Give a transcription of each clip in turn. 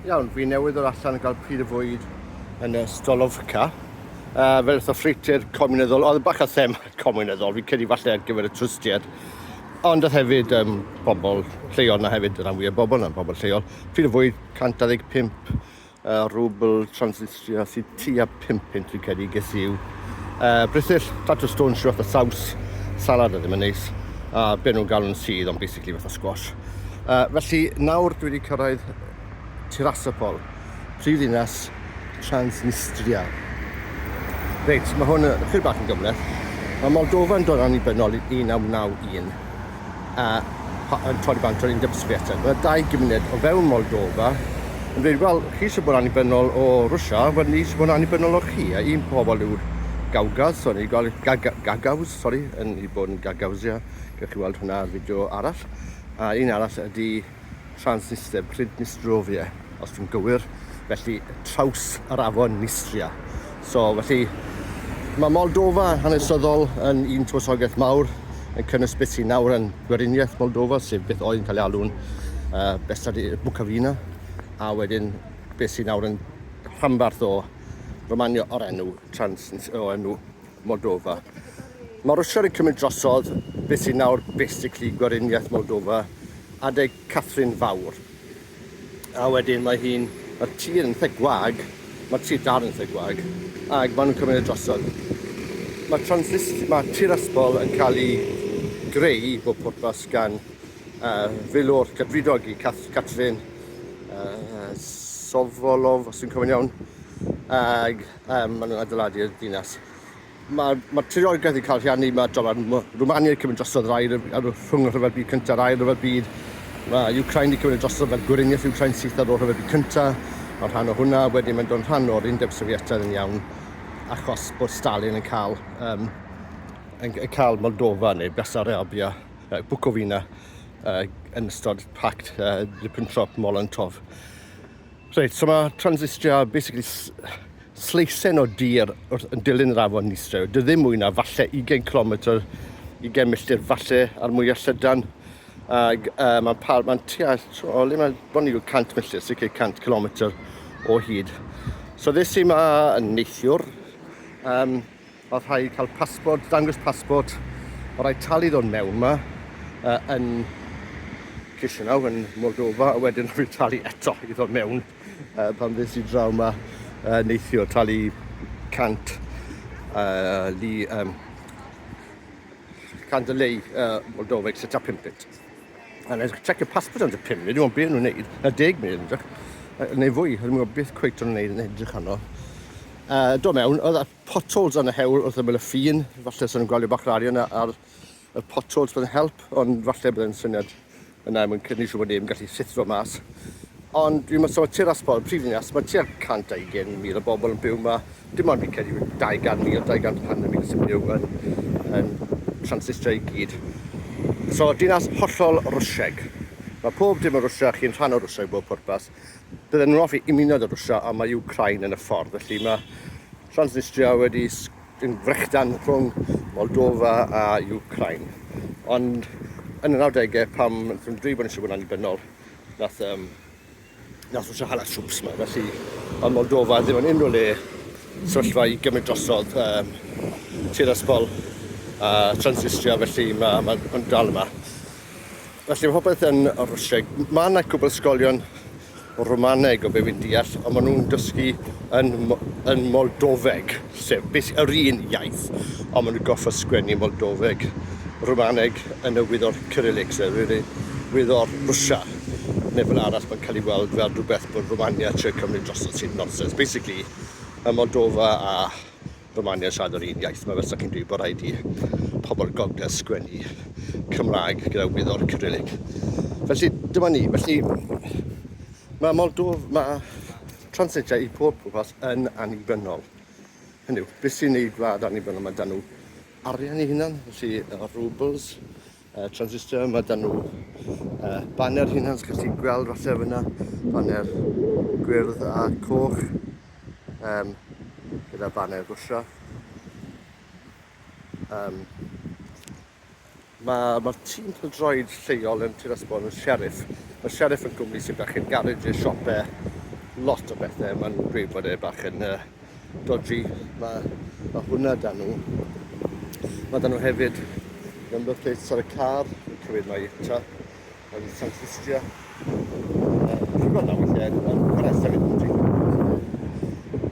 Iawn, fi newydd o'r allan yn cael pryd y fwyd yn y Stolovka. Uh, fel eitha ffreutur comuneddol, oedd yn bach o them comuneddol, fi'n credu falle ar gyfer y twristiaid. Ond oedd hefyd um, bobl lleol na hefyd, y rhan fwyaf bobl na'n bobl lleol. Pryd y fwyd, 125 uh, rwbl, transit Fues i tua pum punt fi'n credu, ges i yw yy brithyll, tatws dwns rhyw fath o saws, salad oedd ddim yn neis, a be' nhw'n galw'n sudd ond basically fatha squash. Yy felly nawr dwi wedi cyrraedd Tirasopol, prifddinas Transnistria. Reit, mae hwn yn ychydig bach yn gymhleth. Mae Moldofa'n dod yn annibynnol i 1991. a yn torri bant o'r undeb Sviatan. Byddai dau gymuned o fewn Moldova yn dweud, wel, chi sy'n bod annibynnol o Rwysia, wel, ni sy'n bod annibynnol o chi, a un pobl yw'r Gawgas, o'n i'n gweld Gagaws, sori, yn i bod yn Gagawsia, gallwch chi weld hwnna ar fideo arall, a un arall ydy Transnister, Pridnistrovia, os dwi'n gywir, felly traws yr afon Nistria. So, felly, mae Moldova hanesyddol yn un tywysogaeth mawr, yn cynnwys beth sy'n nawr yn gweriniaeth Moldova, sef beth oedd yn cael ei alw'n uh, Besad Bwcafina, a wedyn beth sy'n nawr yn rhanbarth o Romania o'r enw Trans, o enw Moldova. Mae Rwsia wedi cymryd drosodd beth sy'n nawr basically gweriniaeth Moldova, adeg Catherine Fawr. A wedyn mae hi'n, mae'r tir yn eitha gwag, mae'r tir dar yn eitha gwag, ac maen nhw'n cymryd y drosodd. Mae, transist, mae Tiraspol yn cael ei greu bob pwrpas gan uh, filwr cadfridog i Cath Catrin uh, Sovolov, os dwi'n cofio'n iawn, ag Um, maen nhw'n adeiladu y dinas. Mae, mae treorigaeth yn cael rhiannu, mae dolar Rwmania wedi cymryd drosodd yr air rhwng y rhyfel byd cyntaf a'r air rhyfel byd. Mae Ukraine wedi cymryd drosodd fel gweriniaeth Ukraine syth ar ôl rhyfel byd cyntaf. Mae rhan o hwnna, wedyn mae'n dod rhan o'r Undeb Sofietaidd yn iawn, achos bod Stalin yn cael, um, yn, yn cael Moldova neu Bessarabia, uh, Bukovina, uh, yn ystod pact uh, Ribbentrop-Molotov. Reit, so mae transistria basically sleisen o dir wrth yn dilyn yr afon Nistre. Dy ddim mwy na falle 20 km, 20 milltir falle ar mwy o llydan. Ac uh, mae'n par, mae'n tua, o le mae'n bron i 100 milltir, sy'n cael 100 km o hyd. So ddes i yma yn neithiwr, um, Mae rhaid cael pasbort, dangos pasbort, mae rhaid talu ddod mewn yma uh, yn Chisinau, yn Moldova, a wedyn rhaid talu eto i ddod mewn uh, pan fes i draw yma uh, neithio, talu 100 uh, li, um, 100 lei uh, Moldova, etc. 5 munud. A nes check y pasbort yn y 5 munud, dwi'n beth nhw'n neud, na 10 munud yn edrych, neu fwy, dwi'n gwybod beth cweith nhw'n neud yn edrych arno. Uh, do mewn, oedd Potholes yn y hewl wrth ymyl y ffin. Falle sy'n gweld bach rarian ar y potholes bydd yn help, ond falle bydd yn syniad yna er mwyn cynnig siw bod neb yn gallu llithro mas. Ond dwi'n meddwl mae tir asbol, prif ddinas, mae tua 120,000 o bobl yn byw yma. Dim ond fi'n credu 200,000, 200 hanner mil sy'n byw yn, yn Transnistria i gyd. So, dinas hollol Rwsieg. Mae pob dim yn Rwsia, chi'n rhan o Rwsia i bob pwrpas. Bydden nhw'n hoffi ymuno â Rwsia, ond mae Wcráin yn y ffordd. Felly mae Transnistria wedi yn frechdan rhwng Moldofa a Wcráin. Ond yn y 90au, pam wnaethon nhw dweud bod eisiau bod yn annibynnol, nath, um, nath Rwsia hala trwps yma. Felly mae Moldofa ddim yn unrhyw le sefyllfa i gymryd drosodd um, Tiraspol a Transnistria, felly mae, mae, mae dal yma. Felly mae popeth yn Rwsieg. Mae yna cwbl ysgolion Romaneg o be fi'n deall, ond maen nhw'n dysgu yn, yn Moldofeg, sef beth, yr un iaith, ond maen nhw'n goffa sgwennu Moldofeg, Romaneg yn y wyddor Cyrillic, sef yr un wyddor Rwsia, neu fel arall mae'n cael ei weld fel rhywbeth bod Romania trio cymryd drosto sy'n nonsens. Basically, mae Moldofa a Romania siarad yr un iaith, mae Rysach yn dweud bod rhaid i pobl gogledd sgwennu Cymraeg gyda wyddor Cyrillic. Felly, dyma ni. Felly, mae Moldof, mae translatiau i pob pwrpas yn annibynnol. Hynny yw, beth sy'n ei gwlad annibynnol? Mae dan nhw arian i hunan, felly y rubles, Uh, transistor, mae dan nhw uh, baner hynhans, gallwch chi gweld falle fyna, baner gwyrdd a coch, um, gyda baner gwsio. Um, Mae'r ma tîm pildroed lleol yn Tir Ysbon yn Sheriff. Mae Sheriff yn gwmni sy'n bach yn garej i'r siopau lot o bethau. Mae'n gweud bod e bach yn uh, dodgy, mae, mae hwnna da nhw. Mae da nhw hefyd number plates ar y car, yn cywir mai ta, yn San Ffistia. Dwi'n gweld na weithiau yn chwarae sefyll yn drin.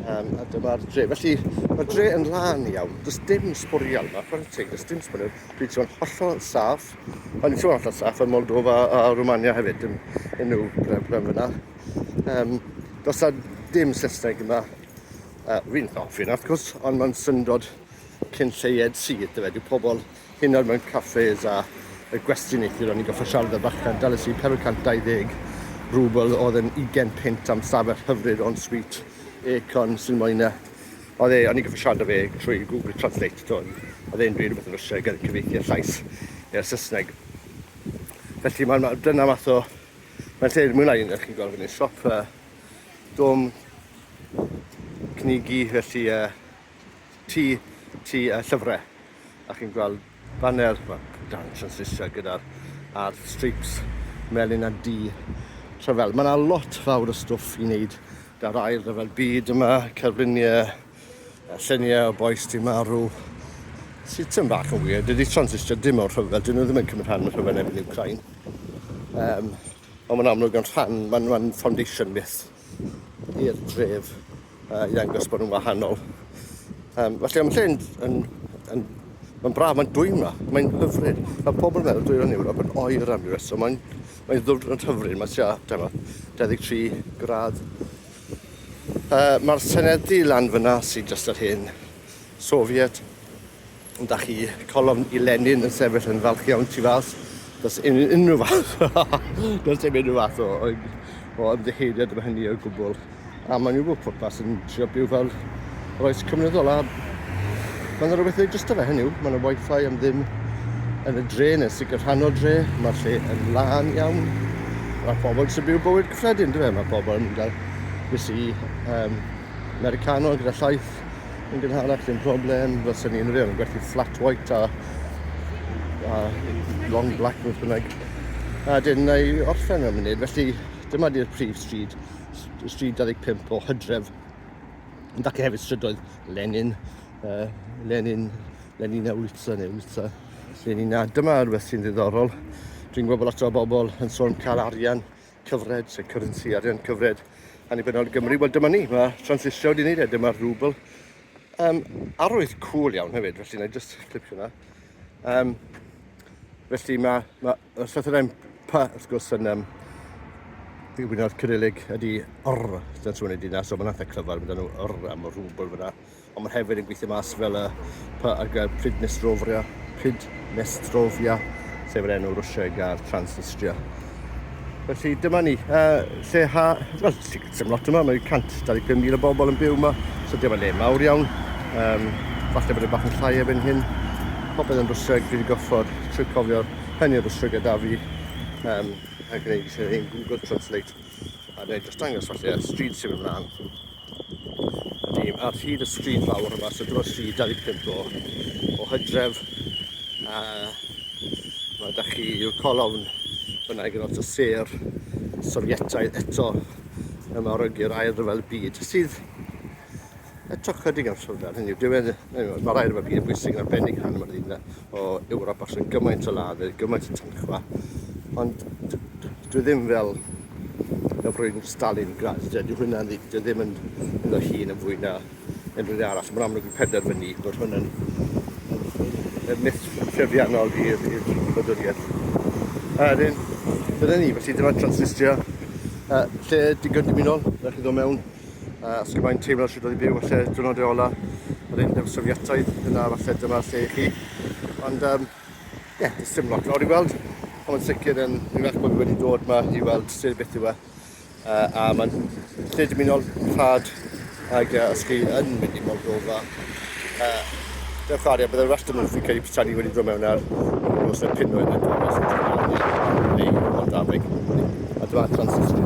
Um, a dyma'r dre. Felly, mae'r dre yn lan iawn. Does dim sbwriel yma, chwarae teg, does dim sbwriel. Dwi'n teimlo'n hollol saff. Mae'n teimlo'n hollol saff yn Moldova a Romania hefyd, yn, yn nhw, gyda'r fyna. Um, does da dim Saesneg yma. Uh, fi'n hoffi yna, wrth gwrs, ond mae'n syndod cyn lleied sydd, dyfe. Dyw pobl hyn oed mewn caffes a y gwestiwn neithiwr o'n i'n goffa siarad y bachan, dalys i 420 rwbl oedd yn 20 pint am stafell hyfryd o'n sweet aircon sy'n moyn e. Oedd e, o'n i'n goffa siarad o fe trwy Google Translate, to, oedd e'n dweud rhywbeth yn Rwysieg yn cyfeithi y llais i'r Saesneg. Felly mae'n dyna math o Mae'n lle mwy na un, ydych chi'n gweld fyny, siop uh, dom cynigi, felly uh, tu, tu uh, llyfrau. A chi'n gweld banner, well, dance yn Saesneg gyda'r ar stripes melyn a du. Rhyfel. Mae yna lot fawr o stwff i wneud da'r air rhyfel byd yma, cerfluniau, A lluniau o bois di marw. Sydd tyn bach yn wir. Dydy transistio dim o'r rhyfel. Dyn nhw ddim yn cymryd rhan yn y rhyfel efo'n Ukraine. Um, ond mae'n amlwg yn rhan, mae'n ma foundation myth i'r dref uh, i ddangos bod nhw'n wahanol. Um, felly, am lle yn, yn, yn Mae'n braf, mae'n dwy yma, mae'n hyfryd. Mae pobl yn meddwl dwyrain Ewrop yn oer am ryw reswm, mae'n mae ddwrnod hyfryd, mae tua, dyma, 23 gradd Uh, Mae'r senedi lan fyna sy'n just yr hen Soviet. Ond da chi colofn i Lenin yn sefyll yn falch iawn tu fas. Does un, unrhyw fath. Does dim unrhyw fath o, o, o ymddeheiriad am hynny o gwbl. A maen nhw bod pwrpas yn trio byw fel yr oes cymryddol. A mae yna rhywbeth yn just o fe hynny yw. Mae yna wifi am ddim yn y dre, yn y sicr rhan o dre. Mae'r lle yn lân iawn. Mae pobl sy'n byw bywyd Sad yn dyfe, mae pobl yn mynd ar fysi um, Americano gyda llaeth yn gynharach, dim problem, fel sy'n ni'n rhaid yn gwerthu flat white a, a long black beth bynnag. A dyn na i orffen am munud, felly dyma di'r prif stryd, stryd 25 o hydref. Yn dacu hefyd strydoedd Lenin, uh, Lenin, Lenin a Wlitza neu Wlitza, Lenin a dyma rhywbeth sy'n ddiddorol. Dwi'n gwybod bod lot o bobl yn sôn cael arian cyfred, sef currency, arian cyfred annibynnol i Gymru. Wel, dyma ni, mae transistio wedi wneud e, dyma'r rhwbl. Um, arwydd cool iawn hefyd, felly na i just clipio hwnna. Um, felly mae, mae y llythyr yn P, wrth gwrs, yn um, i wyno'r Cyrillig ydy R, dyna trwy'n ei dyna, so mae'n atha clyfar, mae nhw R am y rhwbl fyna. Ond mae hefyd yn gweithio mas fel y py ar gael Pridnestrovia, Pridnestrovia, sef yr enw Rwsieg ar Transnistria. Felly dyma ni, uh, lle ha, wel, sy'n lot yma, mae 125,000 o bobl yn byw yma, so dyma le mawr iawn. Um, falle bod y e bach yn llai efo'n hyn. Popeth yn Rwsieg, fi wedi goffod trwy cofio hynny o Rwsieg gyda fi, um, a gwneud ein Google Translate, a wneud dros dangos falle, street sy'n mynd mlaen. Ydym ar hyd y stryd fawr yma, so dyma'r stryd 25 o, o hydref. A mae da chi yw'r colofn fyna gyda lot o ser Sofietaidd eto yma o'r ygyr ail rhyfel y byd sydd eto chydig am sylfaen hynny yw diwedd mae'r air yma byd yn bwysig yn arbennig rhan yma'r un o Ewrop achos gymaint o ladd gymaint o tynchfa ond dwi ddim fel na bryn Stalingrad. Dydy hwnna ddim yn yn y hun yn fwy na unrhyw arall. Mae'n amlwg i penderfynu bod hwnna'n yn myth trefiannol i'r wladwriaeth. A wedyn, dyna ni, felly dyma Transnistria, uh, lle digon dymunol, na chi ddod mewn, uh, os gymaint teimlo sydd wedi byw, falle dwrnod e ola, yr un Sofiataidd, yna falle dyma lle i chi. Ond um, Ie, yeah, does dim lot lawr i weld. Ond mae'n sicr yn iach bod fi wedi dod yma i weld lle beth yw e. Uh, a mae'n lle dymunol rhad ac uh, os chi yn mynd i Moldova, uh, dewch ar e, byddai'r rhestr nhw'n cael ei prytanu wedi dod mewn ar nos y pinwydd yn dod mas yn Moldaveg. A dyma Transnistria.